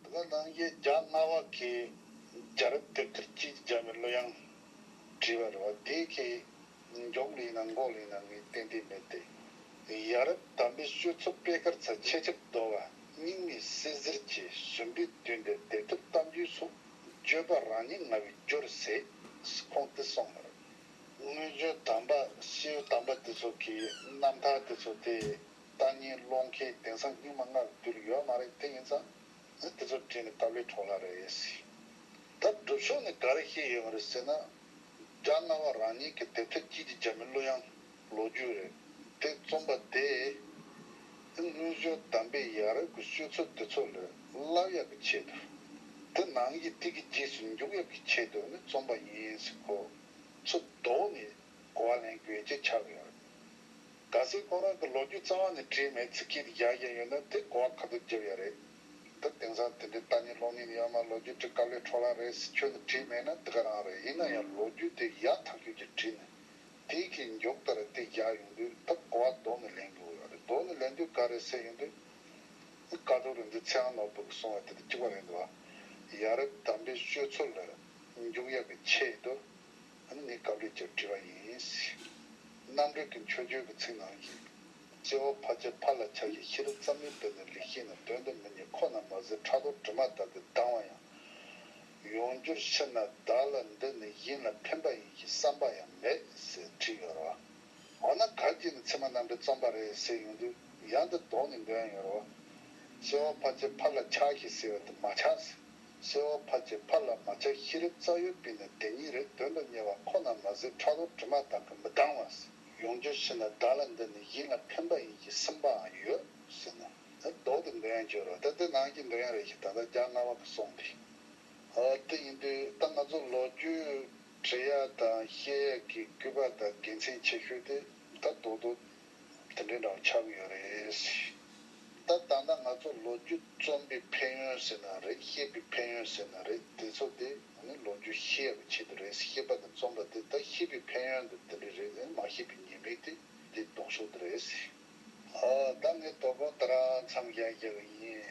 བདག་དང་ཡེ་རྒྱ་སྣ་བ་ཀའི་རྒྱ་རབ་སྟེགས་ཁྲི་གཅིག་བརྒྱ་པའི་གླུ་དབྱངས་བྲིས་པ་རེད་བ་དེ་གའི་མགྱོགས་གླུ་ཡིན་ན་འགོག་གླུ་ཡིན་ན་ངས་ཏན་ཏན་མེད་དེ། ཡ་རབ་དམ་པའི་ཤོད་ཚོ་དཔེ་དཀར་ཚ་ཆེ་ཆབ་རྡོ་བ་སྙིང་མའི་སྲས་གཟེར་གྱི་ཟུམ་པའི་དུས་འདིར་དེབ་ཐེར་གཏམ་རྒྱུད་སོགས་བརྗོད་པ་རང་ཉིད་ང་བའི་སྐྱོ་རུ་ཟས་ཁོང་དུ་སོང་མོད། དངོས་བརྗོད་དམ་པ་ཤེའུ་དམ་པ་དེ་ཚོ་གི་རྣམ་ཐར་དེ་ཚོ་དེ་ལྟ་ཉན་སློང་མཁན་དེང་སང་རྙིང་མ་སྔར་བསྡུ་ལ་ཡོད་མ་རེད་དེ་ཡིན་ཙང་ནི་དེ་ཚོ་བྲིས་ནས་བཏབ་ལེ་གྲོགས་ལ་རེད་ཡ་སི། ད་སྒྲུབ་ཕྱོགས་ནས་ག་རེ་ཤེས་ཡོད་མ་རེད་ཟེར་ན། རྒྱ་རྔ་བ་རང་ཉིད་ཀྱི་དེབ་ཆ་དཀྱིལ་གྱི་རྒྱ་མི་གླུ་དབྱངས་ལོ་རྒྱུས་རེད་དེ་རྩོམ་པ་དེས། སྔོན་བྱོན་གདམས་པའི་ཡ་རབས་ཀྱི་ཤོད་ཚུལ་དེ་ཚོ་ལས་བསླབ་ཡག་གི་ཆེད་དུ། དེ་ནང་གི་ཐིག་གི་རྗེས་སུ་འཇུག་ཡག་གི་ཆེད་དུ་ནི་རྩོམ་པ་ཡིན་སྲིད་ཁོ་ཚོ་བཟློག་ནས་གོ་བ་ལེན་དགོས་ཀྱི་ཆགས་ཡོད་རེད། ག་སྲིད་ཁོང་རང་གི་ལོ་རྒྱུས་རྩ་བ་ནས་བྲིས་མེད་ཚིག་གི་ཡ་གཞན་ཡོད་ན་དེ་གོ་བ་ག་དུས་བརྒྱབ་ཡ་རེད་འདུག་དེང་སང་དེ་འདྲའི་ལྟ་ཉན་ཀློག་ཉན་ཡོད་མ་ལོ་རྒྱུས་བྲི་སྐབས་ལས་འཕྲོ་བརླག་རེད་ཟེར་ཁྱོད་ནས་བྲིས་མེད་ན་འདི་ག་རང་རེད་ཡིན་ན་ཡང་ལོ་རྒྱུས་དེ་ཡག་ཐག་ཆོད་ཀྱི་བྲིས་ནས་དེའི་ཁའི་མགྱོགས་ལྟར་དེ་བཞག་ཡོང་དུས་ད་གོ་བ་ལྡོག་ནས་ལེན་དགོས་ཡོད་རེད་ལྡོག་ནས་ལེན་དུས་ག་རེ་ཟེར་ཡོང་དུས་ཨི་ཀ་ཏོ་རི་འདི་ཚེ་ཨང་ནོར་བུ་གི་སྲུང་བའི་དེ་དུ་བཅུག་པ་རེད་འདུག་ཡ་རེད་དམ་པའི་ཤོད་ཚུལ་ལ་མགྱོགས་ཡག་གི་ཆེད་དུ། ཨ་ནི་སྐབས་རེ་རྒྱབ་བྲིས་པ་ཡིན། རྣམ་གྲོལ་གྱི་མཆོད་བརྗོད་ཀྱི་ཚིག་ནང་གི། སྐྱེ་བ་ཕ་ཆེ་ཕ་ལ་ཆགས་ཞེས་ཤེས་རབ་ཙམ་མིན་པས་ནི་རིགས་ཤེས་ནས་དོན་དུ་མི་ཉེ་ཁོ་ན་མ་ཟད་ཕྲག་དོག་དྲི་མ་དག་གིས་སྡང་བ་ཡང། ཡོང་རྒྱུར་ཕྱིར་ན་བདག་ལ་འདི་ནི་ཡིན་ལ་ཕན་པ་ཡིན་ཞེས་བསམ་པ་ཡང་མེད་ཟེར་བྲིས་ཡོད་རེད་བ། འོ་ན་གར་སྐྱེས་ནས་ཚད་མ་རྣམ་གྲོལ་རྩོམ་པ་རེད་ཟེར་ཡོང་དུས་ཡང་འདི་ལྡོག་ནས་འགྲོ་ཡང་ཡོད་རེད་བ། སྐྱེ་བ་ཕ་ཆེ་ཕ་ལ་ཆགས་ཞེས་ཟེར་བ་དེ་མ་ཆགས་ཟེར། གསལ་བ་ཕར་གྱི་ཕར་ལ་མ་ཆགས་ཤེས་རབ་རྩ་གཡོ་སྤིན་ལ་བདེན་གཉིས་རེ་དོན་དུ་གཉེར་བ་ཁོ་ན་མ་ཟད་ཁྲ་ལོ་དྲི་མ་དག་གི་མི་དྲང་བ། ཡོངས་གྱུར་ཕྱི་ནས་བདག་ལ་འདི་ནི་ཡིད་ལ་ཕན་པ་ཡིན་གྱི་སེམས་པའང་ཡོད་ཟེར་ན། ད་ལྡོག་ཏུ་འདོད་ཡོན་བརྗོད་རོགས་ད་འདི་ནང་གི་འདོད་ཡོན་རེ་ཞིག་ད་ལྟ་རྒྱ་རྔ་བ་གི་སོང་འདི། ཨ་དེ་ཡིན་དུས་ད་ང་ཚོ་ལོ་རྒྱུས་བྲི་ཡག་དང་ཤེས་ཡག་གི་སྐུད་པ་དང་དགེ་མཚན་ཆེ་ཤོས་དེ་ད་ལྡོག་ཏུ་དེ་འདྲའི་ནང་ཆགས་ཀྱི་ཡོད་རེད། ད་ད་ནང་ང་ཚོ་ལོ་རྒྱུས་རྩོམ་པའི་ཕན་ཡོན་ཟེར་ན་རེད་བཤད་པའི་ཕན་ཡོན་ཟེར་ན་རེད་དེ་ཚོ་དེ་ནི་ལོ་རྒྱུས་ཤེས་ཡག་གི་ཆེད་དུ་རེད་ཤེས་པ་དང་རྩོམ་པ་དེ་ད་ཤེས་པའི་ཕན་ཡོན་དུ་དེ་འདྲའི་རེད་ཨེ་མ་ཤེས་པའི་ཉེས་དམིགས་དེ་དེ་ལྡོག་ཕྱོགས་དེ་རེད། ད་ངས་དོ་དགོང་དེ་རང་མཚམས་བཞག་བཞག་ཡིན།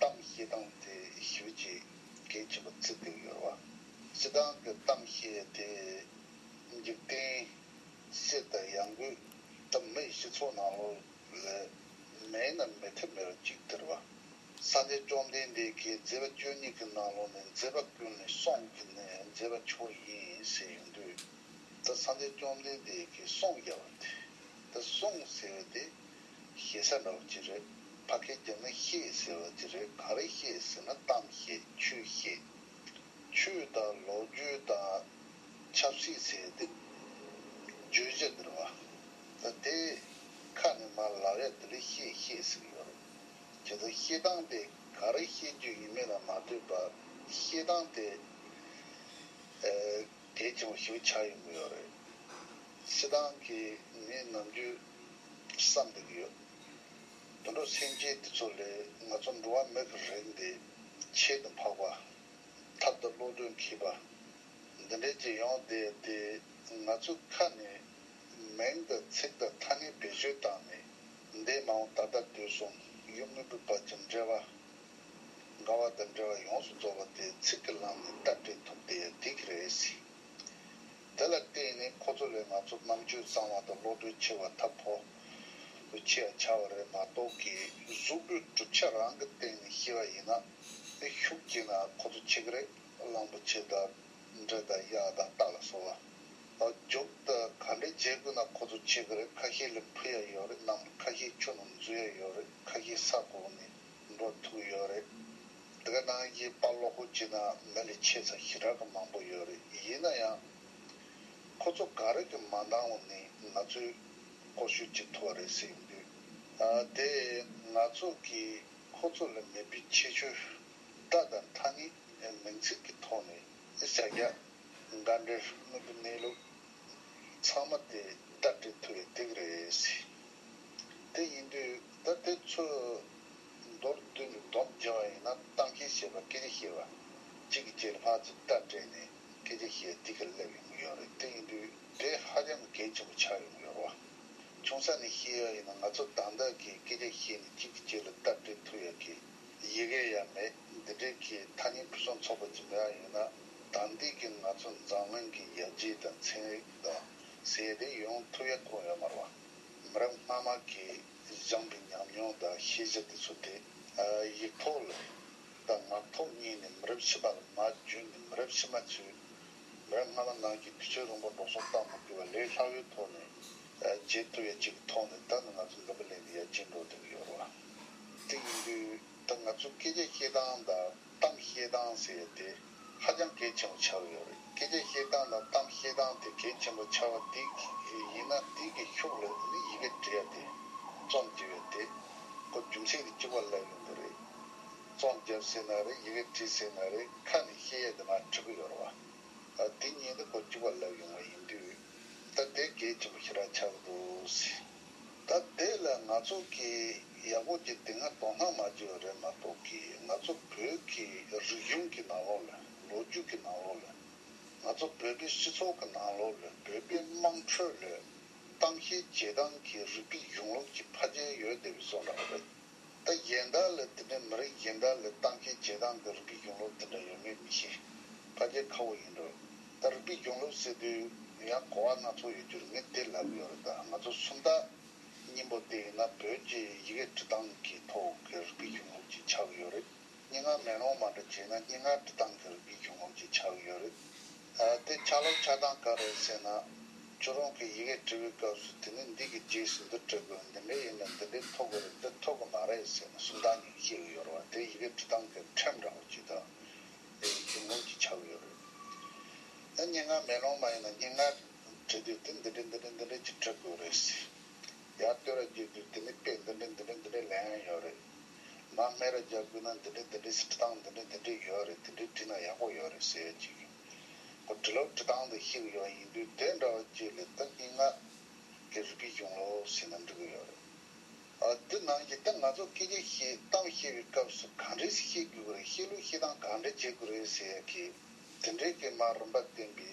གཏམ་བཤད་སྟངས་དེ་ཞུ་ཅི་གལ་ཆེ་བ་བརྩི་འདོད་ཡོད་བ། སྲིད་ཏང་གི་གཏམ་བཤད་དེ་འཇིག་རྟེན་གསེར་དང་ཡང་སྒོས་གྲུབ་མེད་སྤྱི་ཚོགས་ནང་ལོ་ལས་མེད་ན་མེད་ཐབས་མེད་པ་གཅིག་སྟེར་བ། སངས་རྒྱས་བཅོམ་ལྡན་འདས་ཀྱིས་མཛད་པ་བཅུ་གཉིས་ཀྱི་ནང་ལོ་ནས་མཛད་པ་ཀུན་ནས་གསུངས་ཀྱི་ནས་མཛད་པ་མཆོག་ཡིན་ཟེར་ཡོང་དུས་ད་སངས་རྒྱས་བཅོམ་ལྡན་འདས་ཀྱིས་གསུངས་ཡ་བ་དེ་ད་གསུངས་ཟེར་བ་དེ་ཞེ་ས་ལ་བ་ཅི་རེད་ཕ་སྐད་རྒྱབ་ན་ཤེས་ཟེར་བ་དེ་རེད་གང་རེད་ཤེས་ཟེར་ན་གཏམ་ཤེས་ཆོས་ཤེས། ཆོས་དང་ལོག་རྒྱུས་དང་ཆབ་སྲིད་ཟེར་དེ་བརྗོད་བྱ་འདིར་བ་ད་དེ་ཁ་ནས་མ་ལག་ཡ་དེ་རེད་ཤེས་ཤེས་ཟེར་གི་ཡོད་རེད་དེ་ད་ཤེས་སྟངས་དེ་གང་རེད་ཤེས་རྒྱུ་ཡིན་མེད་ལ་མ་ལྟོས་པ་ཤེས་སྟངས་དེ་གལ་ཆེན་པོ་ཞིག་ཆགས་ཡོང་གི་ཡོད་རེད་ཤེས་སྟངས་ཀྱི་མི་ནམ་རྒྱུན། བསམ་འདུག་ཡོད། དུད་འགྲོ་སེམས་ཅན་འདི་ཚོ་ལས་ང་ཚོ་འགྲོ་བ་མི་གི་རིགས་འདི་ཆེད་དུ་འཕགས་པ། ཐབས་དང་བློ་གྲོས་མཁས་པ། འདི་འདྲའི་རྒྱལ་ཡོངས་དེ་དེ་ང་ཚོའི་ཁ་ནས་མིང་དང་ཚིག་དང་ཐ་སྙད་བེད་སྤྱོད་བཏང་ནས་འདས་མ་འོངས་ད་ལྟ་དུས་གསུམ་ཡུལ་དངོས་པོའི་བར་གྱི་འབྲེལ་བ། དགའ་བ་དང་འབྲེལ་བ་ཡོངས་སུ་རྫོགས་པ་དེ་ཚིག་གི་ལམ་ནས་བརྟག་དཔྱད་ཐུབ་དེ་ཡང་དེ་གི་རེད། དེ་ལ་བརྟེན་ནས་ཁོ་ཚོ་ལས་ང་ཚོ་རྣམ་དཔྱོད་གཙང་མ་དང་བློ་གྲོས་ཆེ་བ་ཐབས་ཕོ་དུ་ཁྱེད་ཡ་ཆ་བ་རེད་མ་གཏོགས་གི་གཟུགས་པོའི་གྲུབ་ཆ་རང་གི་སྟེང་ནས་ཤི་བ་ཡིན་ན་ནི་ཤུགས་ཀྱིས་ན་ཁོ་ཚོ་ཆི་གི་རེད་གླང་པོ་ཆེ་དང་འདྲེ་དང་གཡག་དང་སྟག་ལ་སོགས་བ་རྒྱོབ་དང་ག་འདྲེ་བརྗེ་དགོས་ན་ཁོ་ཚོ་ཆི་གི་རེད་ཁ་ཤས་ལས་འཕུར་ཡ་ཡོད་རེད་ནམ་ཁ་ཤས་ཆུ་ནང་འཛུལ་ཡ་ཡོད་རེད་ཁ་ཤས་ས་གོག་ནས། འགྲོ་ཐུབ་ཡོད་རེད། འདི་ག་ནང་གི་དཔའ་བློ་སྒོ་འབྱེད་ན་མི་ལས་ཆེས་ཚ་ཞེ་དྲག་གི་མང་པོ་ཡོད་རེད་ཡིན་ན་ཡང། ཁོ་ཚོ་ག་རེ་གི་མ་འདང་བ་ནི་ང་ཚོས་སྐོར་ཞུ་བྱེད་ཐུབ་བ་རེད་ཟེར་ཡིན་དུས། དེ་ང་ཚོ་གིས་ཁོ་ཚོ་ལ་མེད་པའི་ཁྱད་ཆོས་སྒྲ་དང་ཐ་སྙད་མིང་ཚིག་གི་ཐོག་ནས་བྱ་གཞག་འགའ་འདྲེར་དངོས་པོའི་གནས་ལུགས་ཚང་མ་དེ་ལྟར་འགྲེལ་ཐུབ་པའི་སྡིགས་རེད། དེ་ཡིན་དུས་ད་དེ་ཚོས་མདོར་བསྡུས་ནས་བསྡོམས་བརྒྱ་བ་ཡིན་ན་གཏམ་འཁྱལ་བཤད་པ་སྐད་ཆ་བཤད་པ་གཅིག་གི་རྗེས་ལྷག་ཅིག་སྐྲ་བྲེགས་ནས་སྐད་ཆ་བཤད་འདི་ག་སླེབས་ཡོང་གི་ཡོད་རེད་དེ་ཡིན་དུས་དེ་ཧ་ཅང་གི་གལ་ཆེན་པོ་ཆགས་ཡོང་གི་ཡོད་རེད་བ། ཆུང་ས་ནས་བཤད་ཡག་ཡིན་ན་ང་ཚོ་དག་འདག་གིས་སྐད་ཆ་བཤད་ནས་གཅིག་གི་རྗེས་ལ་སྟབས་བྲེགས་ཐུབ་ཡག་གི་ཡི་གེ་ཡག་མེད་འདི་འདྲའི་གི་ཐ་སྙད་ཕུན་སུམ་ཚོགས་པ་ཅིག་མེད་ཨ་ཡོད་ན་དག་འདི་གི་ང་ཚོ་འཛམ་གླིང་གི་ཡག་རྗེས་དང་ཚན་རིག་དང་ཟས་དེ་ཡོང་ཐུབ་ཡག་གོ་ཡོད་མ་རེད་བ། མི་རབས་སྔ་མ་གིས་སྦྱངས་པའི་ཉམས་མྱོང་དང་ཤེས་བྱ་དེ་ཚོ་དེ་ཡིག་ཐོག་ལ་རེད་དང་ངག་ཐོག་གཉིས་ནས་མི་རབས་ཕྱི་མ་ལ་མ་བརྗོད་ནས་མི་རབས་ཕྱི་མ་ཚོས་མི་རབས་སྔ་མ་ནང་གི་དུས་ཚོད་རིང་པོར་སྒྲོག་སོག་བཏང་མི་དགོས་པར་ལས་སླ་བོའི་ཐོག་ནས་བརྗེད་ཐུབ་ཡ་གཅིག་གི་ཐོག་ནས་ད་ནི་ང་ཚོ་འདི་འདྲ་ལས་ནས་ཡར་རྗེས་འགྲོ་ཐུབ་ཀྱི་ཡོད་རེད་བ། དེ་ཡིན་དུས་ད་ང་ཚོས་སྐད་ཆ་བཤད་སྟངས་དང། གཏམ་བཤད་སྟངས་ཟེར་བ་དེ་ཧ་ཅང་གལ་ཆེན་པོ་ཆགས་ཡོད་རེད་སྐད་ཆ་བཤད་སྟངས་དང་གཏམ་བཤད་སྟངས་དེ་གལ་ཆེན་པོ་ཆགས་པ་དེ་ཡིན་ན་དེ་གི་ཤུགས་ལ་མི་ཡི་གེ་འབྲི་བ་དེ་རྩོམ་འབྲི་བའི་དེ་གོ་རྒྱུ་མཚན་གི་ཅིག་པ་ལབ་ཡོང་གི་རེད་རྩོམ་བརྒྱབ་ཟེར་ན་རེད་ཡི་གེ་བྲིས་ཟེར་ན་རེད་ཁ་ནས་བཤད་ཡ་དེ་མ་འཁྲིག་གི་ཡོད་རེད་བ་དེ་ཉིད་དེ་གོ་ཅིག་པ་ལབ་ཡོང་བ་ཡིན་དུས་ད་དེ་གལ་ཆེན་པོ་ཞིག་ར་ཆགས་གི་འདུག། ད་དེ་ལ་ང་ཚོ་གིས་ཡག་པོ་གྱི་དེ་སྔ་དོ་སྣང་མ་བྱས་པ་རེད་མ་གཏོགས་ཀྱི་ང་ཚོ་བོད་ཀྱི་རིག་གཞུང་གི་ནང་ལོགས་ལ་ལོ་རྒྱུས་ཀྱི་ནང་ལོགས་ལ་ང་ཚོ་བོད་པའི་སྤྱི་ཚོགས་ཀྱི་ནང་ལོགས་ལ་བོད་པའི་དམངས་ཁྲོད་ལ་ཏང་གཤིས་རྗེས་འབྲང་གི་རིགས་པའི་གཞུང་ལུགས་ཀྱི་ཕ་རྒྱལ་ཡོད་བསྡད་པའི་བཟོ་འདྲ་བ་རེད། ད་གཞན་དག་ལས་དེ་འདྲའི་མི་རིགས་གཞན་དག་ལས་ཏང་གི་བྱེད་སྟངས་འདི་རིགས་པའི་གཞུང་ལུགས་དེ་འདྲ་ཡོད་མེད་མི་ཤེས། ཕ་རྒྱལ་ཁ་བོ་ཡིན་འགྲོ། ད་རིགས་པའི་གཞུང་ལུགས་ཟེར་དུས་ཡང་གོ་བ་སྣ་ཚོགས་ཡོད་རྒྱུར་ངས་བལྟས་ལབ་ཡོད་རེད་ད་ང་ཚོ་སུམ་རྟགས་སྙིང་པོ་དེ་ཡིན་ན་བོད་ཀྱི་ཡི་གེ་འབྲི་སྟངས་ཀྱི་ཐོག་གི་རིགས་པའི་གཞུང་ལུགས་ཅིག་ཆགས་ཡོད་རེད། སྙན་ངག་མེ་ལོང་མ་འདྲ་བྱས་ན་སྙན་ངག་འབྲི་སྟངས་ཀྱི་རིགས་རྒྱུད་བྱུང་ངམ་ཅེས་འཕྱ་འུ་ཡོད་རེད། དེ་ཆ་ལོག་ཆ་སྡང་ག་རེད་ཟེར་ན། ཁྱོད་རང་གིས་ཡི་གེ་འབྲི་བའི་སྐབས་སུ་དེ་ནི་འདི་གི་རྗེས་སུ་འདི་འབྲི་དགོས་འདི་འདྲའི་ཡིན་ན་འདི་འདྲའི་ཐོག་གི་རེད་འདི་ཐོག་གི་མ་རེད་ཟེར་ན་སུམ་རྟགས་ཉུང་ཤས་འུ་ཡོད་རེད་བ་དེ་ཡི་གེ་འབྲི་སྟངས་ཀྱི་ཁྲིམས་འདྲ་བོ་ཅིག་དང་འདྲ་ཡིན་བྱུང་ངམ་ཅེས་འཕྱ་འུ་ཡོད་རེད། ད་སྙན་ངག་མེ་ལོང་མ་ཡིན་ན་སྙན་ངག་འབྲི་དུས་དེ་འདི་འདྲའི་འདི་འདྲའི་འདི་འདྲའི་ཅིག་འབྲི་དགོས་རེད། ཡར་ལྟོས་ར་བརྒྱུད་དུས་དེ་ནི་དཔེ་འདི་འདྲའི་འདི་འདྲའི་འདི་འདྲའི་ལན་ཡང་ཡོད་རེད། ང་སྨད་ར་རྒྱག་དགོས་ན་འདི་འདྲི་འདི་འདྲི་ཞེས་འབྲི་སྟངས་འདི་འདྲི་འདི་འདྲི་ཡོད་རེད་དེ་འདྲི་འབྲི་ན་ཡག་པོ་ཡོད་རེད་ཟེར་ཡོད་ཅིག་ཡིན། གོ་འབྲི་ལོག་འབྲི་སྟངས་དེ་ཤེས་དགོས་ཡོད་ཡིན་དུས་དེ་འདྲ་བ་བཅས་ལས་སྟབས་ཀྱིས་ང་གི་རི་སྐད་གྱོང་ལོ་ཞེས་ན་འགྲིག་གི་ཡོད་རེད། ཨ་འདི་ནང་གི་ད་ང་ཚོ་སྐད་ཆ་བཤད་གཏམ་བཤད་པའི་སྐབས་སུ་གང་འདྲི་བཤད་དགོས་ཀྱི་རེད་བཤད་ལུགས་བཤད་སྟངས་གང་འདྲི་བྱེད་དགོས་རེད་ཟེར་ཡོད་ཀི། དེ་འདྲའི་སྐད་མ་རིན་པ་བསྟན་པའི།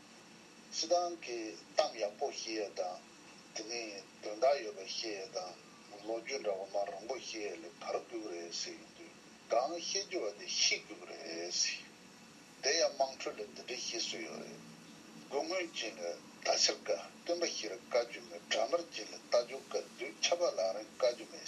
སི་ཏང་གི་གཏམ་ཡག་པོ་བཤད་ཡ་དང་དེ་ནས་དོན་དག་ཡོད་པ་བཤད་ཡ་དང་ལོ་རྒྱུས་འདྲ་བོ་མ་རུང་པོ་བཤད་ཡ་ལས་བར་རྒྱུག་རེད་ཟེར་ཡོང་དུས་གང་བཤད་རྒྱུ་བ་དེ་ཤི་རྒྱུག་རེད། དེ་ཡང་དམངས་ཁྲོད་ལ་འདི་འདྲའི་བཤད་སྲོལ་ཡོད་རེད། དགུ་སྔོན་ཅན་ལ་ད་ཕྱིར་དགའ་སྟོན་པ་ཞིག་ར་བཀའ་རྒྱུ་མེད་དགྲ་དམར་ཅན་ལ་རྟ་རྒྱུག་དཀའ་དུས་ཆབ་པ་ལག་རིང་དཀའ་རྒྱུ་མེད།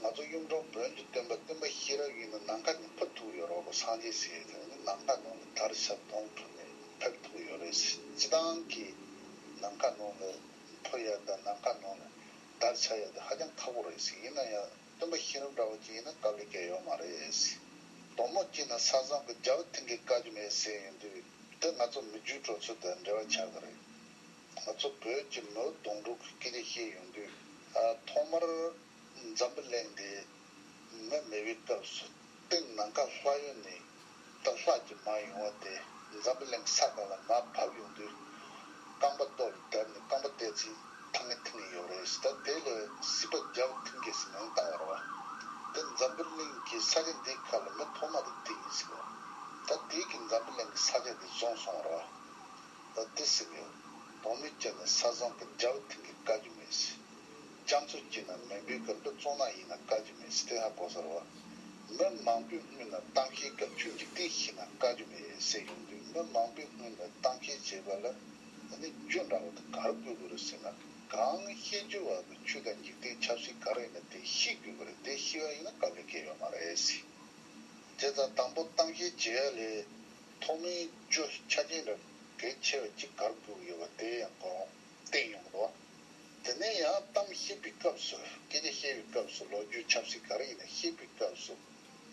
ང་ཚོ་གཡུང་དྲུང་བོན་དུ་སྟོན་པ་སྟོན་པ་ཤེས་རབ་ཡིན་ནོ་ནམ་མཁའ་ནས་ཕུར་ཐུག་ཡོད་རོགས་པ་སངས་རྒྱས་ཟེར་ཡོད་ཀྱང་ནམ་མཁའ་ནང་ལ་དར་ཞབས་དོང་ཕུར་ནས་ཕེབས་ཐུག་ཡོད་རེད་སྤྱི་བཏང་གི་ནམ་མཁའ་ནང་ལ་ཕུར་ཡ་དང་ནམ་མཁའ་ནང་ལ་དར་ཆགས་ཡ་དེ་ཧ་ཅང་ཁག་པོ་རེད་ཡིན་ན་ཡང་སྟོན་པ་ཤེས་རབ་འདྲ་བོ་ཅིག་ཡིན་ན་སྐབས་ལས་བསྐྱལ་ཡོད་མ་རེད། དོང་མོ་སྐྱིད་ནི་ས་བཟང་གི་རྒྱ་བོ་ཐིང་གིས་བཀག་རྒྱུ་མེད་ཟེར་ཡོད་དུས་འདི་ང་ཚོ་མི་རྒྱུད་གྲོགས་ཚོས་དེ་འབྲེལ་བ་ཆགས་གི་རེད། ད་ཚོ་བོད་ཀྱི་མོའུ་གདོང་དྲུག་གི་སྐད་རིགས་ཤེས་ཡོང་དུས། ཐོག་མར་འཛམ་བུ་གླེང་དེ་མི་མེད་པའི་སྐབས་སུ་སྟེང་ནང་ཁ་ལྷ་ཡུལ་ནས་རྟ་ལྷག་ཅིག་མར་ཡོང་བ་དེ་འཛམ་བུ་གླེང་ས་ག་ལ་མར་བབས་ཡོང་དུས། རྐང་པ་ལྟོ་ལ་བརྡབས་ནས་རྐང་པ་བལྟས་ཚེ་ཐང་ངེ་ཐིང་ངེ་ཡོད་རེད་ཟེར་ད་དེ་ལ་སྲིད་པ་རྒྱ་བོ་ཐིང་ཀེ་སི་མིང་བཏགས་བར་བ། དེ་འཛམ་བུ་གླིང་གི་ས་ཆ་འདིའི་ཁ་ལ་མི་ཐོག་མ་དེ་དེ་ཡིན་ཟེར་བ། ད་དེ་གིས་འཛམ་བུ་གླིང་གི་ས་ཆ་དེ་བཟུང་སོང་བར་བ། ལ་བདེ་སྲིད་ཡོད། དོགས་མེད་སྐྱེ་ནས་ས་བཟང་གི་འཇའ་འོད་མཐིང་གི་དཀའ་རྒྱུ་མེད་སྲིད། སྐྱབས་མཚོ་སྐྱིད་ན་མེ་འབུའི་གར་འབུ་བཙོང་ནག་ཡིན་ན་དཀའ་རྒྱུ་མེད་སྲིད་ཏེ་ཧ་གོ་སར་བ། མི་མང་པོས་རྔུལ་ན་གཏམ་འཁེལ་སྐབས་ཁྱོད་འཇིག་རྟེན་ཤི་ན་དཀའ་རྒྱུ་མེད་སྲིད་ཡོང་དུས་མི་མང་པོས་རྔུལ་ནས་གཏམ་འཁེལ་བྱེད་པ་ལ་འདི་ནི་རྒྱུ་འདྲ་བོ་དང་གར་དགོས་དགོས་རེད་ཟེར་ན་གང་ཤེས་རྒྱུ་བ་དང་ཆུ་དང་འཇིག་རྟེན་ཆབ་སྲིད་ག་རེ་ཡིན་ན་དེ་ཤི་དགོས་པ་རེད་དེ་ཤི་བ་ཡིན་ན་དཀའ་ལས་སྐྱེ་ཡོད་མ་རེད་སྲིད། དེ་དང་དང་པོ་གཏམ་འཁེལ་བྱེད་ཡ་ལས། ཐོག་མའི་བརྗོད་བྱ་ཆ་རྐྱེན་རབ་གལ་ཆེ་བ་གཅིག་གར་བསྒྱུར་ཡོད་པ་དེ་ཡང་གོ་རུང་བསྟན་ཡོང་གི་འདུག་དེ་ནས་ཡང་གཏམ་བཤད་པའི་སྐབས་སུ་སྐད་ཆ་བཤད་པའི་སྐབས་སུ་ལོ་རྒྱུས་ཆབ་སྲིད་ག་རེ་ཡིན་ན་བཤད་པའི་སྐབས་སུ་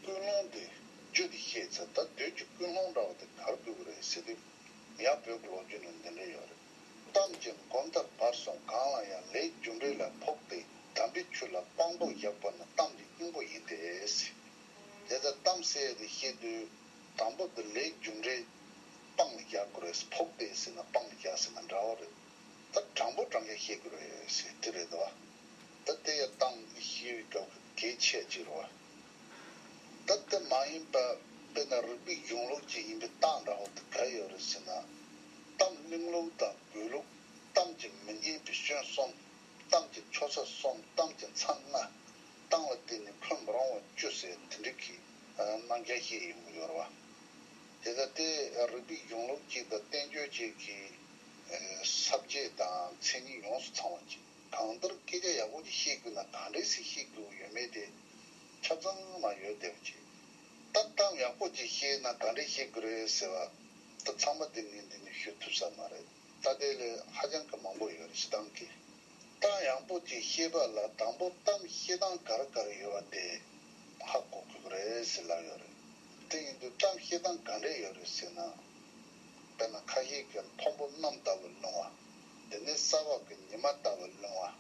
ཀུན་སློང་དེ་བརྗོད་དེ་བཤད་ཚེ་ད་གདོད་ཀྱི་ཀུན་སློང་འདྲ་བ་དེ་གར་བསྒྱུར་གི་རེད་ཟེར་དུས་ཡང་བོད་ཀྱི་ལོ་རྒྱུས་ནང་འདི་འདྲ་ཡོད་རེད་གཏམ་གྱི་མགོ་མཐའ་བར་གསུམ་གང་ལ་ཡང་ལས་རྒྱུ་འབྲས་ལ་ཕོག་སྟེ་དམ་པའི་ཆོས་ལ་དཔང་པོ་བཞག་པ་ནི་གཏམ་གྱི་སྙིང་པོ་ཡིན་ཏེ། དེ་ལྟར་གཏམ་བཤད་དེ་བཤད་དུས་དང་པོ་འདི་ལས་རྒྱུ་འབྲས་སྤང་མི་རྒྱག་དགོས་རེད་ཕོག་པས་ཟེར་ན་སྤང་མི་རྒྱག་ཟེར་ན་འདྲ་བོ་རེད་ད་དྲང་པོ་དྲང་རྒྱ་ཤེས་དགོས་རེད་དེ་རེད་དོ་ད་དེ་ཡ་ཏང་གི་ཤེས་ཡོད་སྐབས་ཀྱི་གལ་ཆེ་གཅིག་རེད་བ་ད་དེ་མ་ཡིན་པ་དཔེར་ན་རིགས་པའི་གཞུང་ལུགས་ཅིག་ཡིན་པའི་ཏང་འདྲ་བོ་དེ་ག་ཡོད་རེད་ཟེར་ན་ཏང་གླིང་ལུགས་དང་དགོས་ལུགས་ཏང་གི་མི་སྙན་པའི་གཞོན་གསུམ་ཏང་གི་ཆོ་ས་གསུམ་ཏང་གི་མཚང་ལྔ་ཏང་ལ་བརྟེན་ནས་འཁོད་མི་རུང་བ་བཅུ་ཟེར་དེ་འདྲའི་གི། སྣང་རྒྱ་སྐྱེད་ཡོང་གི་ཡོད་རེད། དེ་ལྟ་སྟེ་རིགས་པའི་གཞུང་ལུགས་གཅིག་དང་བསྟན་བཅོས་གཅིག་གི་ས་བཅད་དང་མཚན་ཉིད་ཡོངས་སུ་ཚང་བ་ཅིག་གང་ལྟར་སྐད་ཆ་ཡག་པོ་ཅིག་བཤད་དགོས་ན་གང་འདྲའི་ཟིག་བཤད་དགོས་ཡོད་མེད་དེ་ཆ་ཚང་མ་ཡོད་བསྡད་པ་ཅིག་སྟབས་གཏམ་ཡག་པོ་ཅིག་བཤད་ན་གང་འདྲས་བཤད་དགོས་རེད་ཟེར་བ་ལྟར་ཚང་མ་དེ་ནས་འདི་ནས་ཤོད་ཐུབ་ས་མ་རེད་ད་ལྟའི་ལོའི་ཧ་ཅང་གི་མང་པོ་ཡོད་རེད་བཤད་སྟངས་ཀྱི་གཏམ་ཡག་པོ་ཅིག་བཤད་པ་ལ་དང་པོ་གཏམ་བཤད་སྟངས་ག་རེ་ག་རེ་ཡོད་བ་དེ། ཧ་གོ་ཁུག་རེད་ཟེར་ལབ་ཡོད་རེད། དེ་ཡིན་དུས་གཏམ་བཤད་སྟངས་གང་འདྲས་ཡོད་རེད་ཟེར་ན། དཔེར་ན་ཁ་ཤས་ཀྱིས་མཐོན་པོ་གནམ་ལྟ་བུ་སློང་བ། དེ་ནས་ས་འོག་གི་ཉི་མ་ལྟ་བུ་སློང་བ།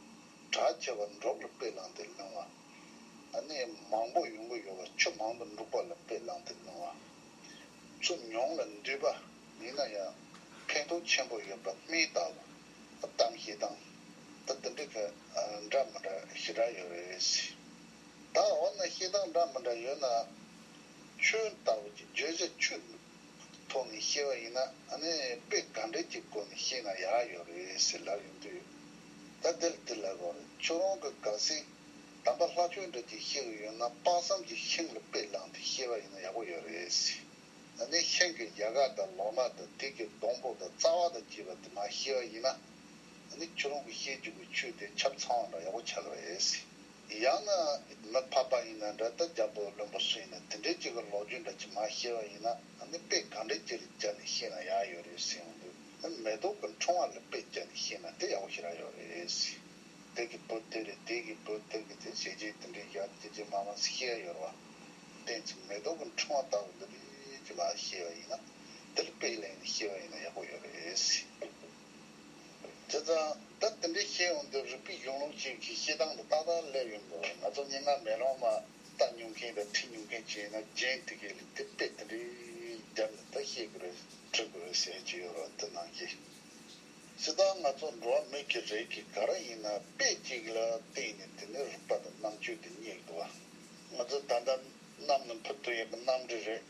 གྲགས་ཆེ་བ་འབྲོག་ལ་དཔེ་བླངས་ཏེ་སློང་བ། གནས་མང་པོ་ཡོང་གི་ཡོད་པ་ཆུ་མང་དུ་འབྲུག་པ་ལ་དཔེ་བླངས་ཏེ་སློང་བ། ཚུར་མྱོང་ལ་འདུས་པ་ཡིན་ན་ཡང་ཕན་ཐོགས་ཆེན་པོ་ཡོད་པ་སྨིན་ལྟ་བུ། གཏམ་བཤད་སྟངས་ད་འདི་འདྲའི་ག་འདྲ་མི་འདྲ་ཞེ་དྲག་ཡོད་རེད། བདག་འོ་ན་ཤེས་དང་འདྲ་མི་འདྲ་ཡོད་ན། ཁྱོད་ལྟ་བུ་ཀྱི་བརྗོད་བྱ་ཆུ་ཐོག་ནས་ཤེས་པ་ཡིན་ན་ནི་དཔེ་ག་འདྲས་ཀྱི་སྒོ་ནས་ཤེས་ན་ཡག་ཡོད་རེད་ཟེར་ལབ་ཡོང་དུས། ད་དེར་དེ་ལབ་བར་ཁྱོད་རང་གི་དགའ་སེམས་དམ་པ་ལྷ་ཆོས་འདྲ་ཅིག་ཤེས་གི་ཡོད་ན་དཔག་བསམ་གྱི་ཤིང་ལ་དཔེ་བླངས་ཏེ་ཤེས་པ་ཡིན་ན་ཡག་པོ་ཡོད་རེད་ཟེར་ནས་ཤིང་གི་ཡལ་ག་དང་ལོག་ན་དང་དེ་གི་སྡོང་པོ་དང་རྩ་བ་དང་བཅས་པ་དེ་མ་ཤེས་པ་ཡིན་ན་ནི་ཁྱོད་རང་གི་ཤེས་འཇུག་གི་ཆུ་དེ་ཁྱབ་ཚང་བ་འདྲ་ཡག་པོ་ཆགས་རེད་ཟེར། ཡང་ན་མི་ཕབ་པ་ཡིན་ན་འདྲ་ལྟ་རྒྱབ་པོ་བློན་པོ་སུ་ཡིན་ན་དེ་འདྲའི་ཅིག་གི་ལོག་རྒྱུ་འདྲ་ཅིག་མ་ཤེས་པ་ཡིན་ན་ནི་དཔེ་གང་འདྲའི་ཅིག་རེ་བཅར་ནས་ཤེས་ན་ཡག་ཡོད་རེད་ཟེར་ཡོང་དུས་མེ་ཏོག་གི་འཕྲེང་བ་ལ་དཔེ་བཅར་ནས་ཤེས་ན་དེ་ཡག་པོ་ཞིག་རག་ཡོད་རེད། དེ་གི་བུ་དེ་རེད་དེ་གི་བུ་དེ་རེད་ཟེར་ཞེས་རྗེས་དེ་འདྲའི་ཞག་གཅིག་ཅིག་མ་མ་ཤེས་ཡ་ཡོད་རེད་བ། བརྟེན་ཅིག་མེ་ཏོག་གི་འཕྲེང་བ་ལྟ་བུ་འདི་རེད་ཅིག་མ་ཤེས་པ་ཡིན་ན་དེ་ལ་དཔེ་གླེང་ནས་ཤེས་པ་ཡིན་ན་ཡག་པོ་ཡོད་རེད། དེ་ཙང་ད་དེ་འདྲའི་ཤེས་ཡོང་འདི་རིག་པའི་གཞུང་ལུགས་ཅིག་གི་ཤེས་སྟངས་དུ་ཏག་ཏག་སླེབས་ཡོང་དགོས་ང་ཚོ་སྙན་ངག་མེ་ལོང་མ་ལྟ་མྱོང་མཁན་དང་ཁྲིད་མྱོང་མཁན་གཅིག་ཡིན་ན་རྒྱན་དེ་གའི་ལུགས་དེ་དཔེ་དེ་འདྲའི་རྒྱབ་ནས་ད་ཤེས་དགོས་རེད་ཁྲིད་དགོས་རེད་ཟེར་གྱི་ཡོད་རོགས་དེ་ནང་གི་སྤྱི་བཏང་ང་ཚོ་འགྲོ་བ་མི་གི་རེ་གི་ག་ར་ཡིན་ན་དཔེ་གཅིག་ལ་བརྟེན་ནས་དེ་ནས་རིག་པ་དང་རྣམ་དཔྱོད་དེ་རྙེད་དགོས་པ་ང་ཚོ་ད་ལྟ་གནམ་ནས་འཕུར་དུ་ཡག་གི་གནམ་འདྲེ་རེད།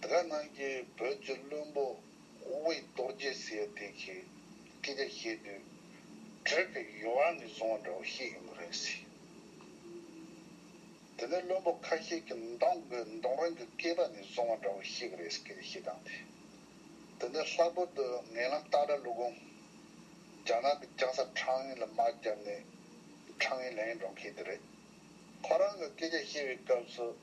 དགའ་སྣང་གི་བོད་ཀྱི་བློན་པོ་དབྱི་རྡོ་རྗེ་ཟེར་ཡ་དེ་གིས་སྐད་ཆ་བཤད་དུས། བྲོས་པའི་ཡོ་བ་ནས་བཟུང་བ་འདྲ་བོ་ཤེས་ཡོང་གི་རེད་ཟེར། དེ་ནས་བློན་པོ་ཁ་ཤས་ཀྱིས་མདང་དགོན་མདོང་རང་གི་སྐེད་པ་ནས་བཟུང་བ་འདྲ་བོ་ཤེས་གི་རེད་ཟེར་སྐད་ཆ་བཤད་སྟངས་དེ། དེ་ནས་ལྷག་པར་དུ་ངན་ལམ་སྟག་སྒྲ་ཀླུ་གོང། རྒྱ་ནག་གི་རྒྱང་ས་ཁྲང་ཡིན་ལ་དམག་བརྒྱབ་ནས་ཁྲང་ཡིན་ལན་ཡིན་འགྲོ་མཁན་དེ་རེད། ཁོ་རང་གིས་སྐད་ཆ་བཤད་པའི་སྐབས་སུ།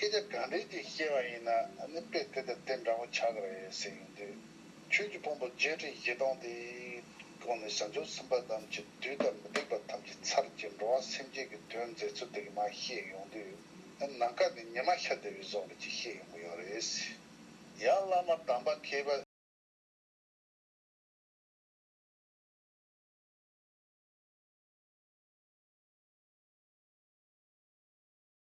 སྐད་ཆ་གང་དྲན་གྱིས་བཤད་པ་ཡིན་ན་ནི་དཔེ་དེ་དང་དེ་འདྲ་བོ་ཆགས་ཀྱི་རེད་ཟེར་གྱི་འདུག་ཁྱོད་ཀྱི་ཕུང་པོ་བརྒྱད་ཁྲི་བཞི་སྟོང་དེའི་སྒོ་ནས་བྱང་ཆུབ་སེམས་དཔའ་དམ་གྱི་བདུད་དང་མི་སྡིག་པ་ཐམས་ཅད་ཚར་གྱི་འགྲོ་བ་སེམས་ཅན་གྱི་དོན་མཛད་ཚུལ་དེ་ག་མ་ཤེས་ཡོང་དུས་ནི་ནམ་མཁའ་ནས་ཉི་མ་ཤར་བདེ་བའི་གཟུགས་མེད་ཅིག་ཤེས་ཡོང་གི་ཡོད་རེད། ཡང་བླ་མ་དམ་པ་མཁས་པ།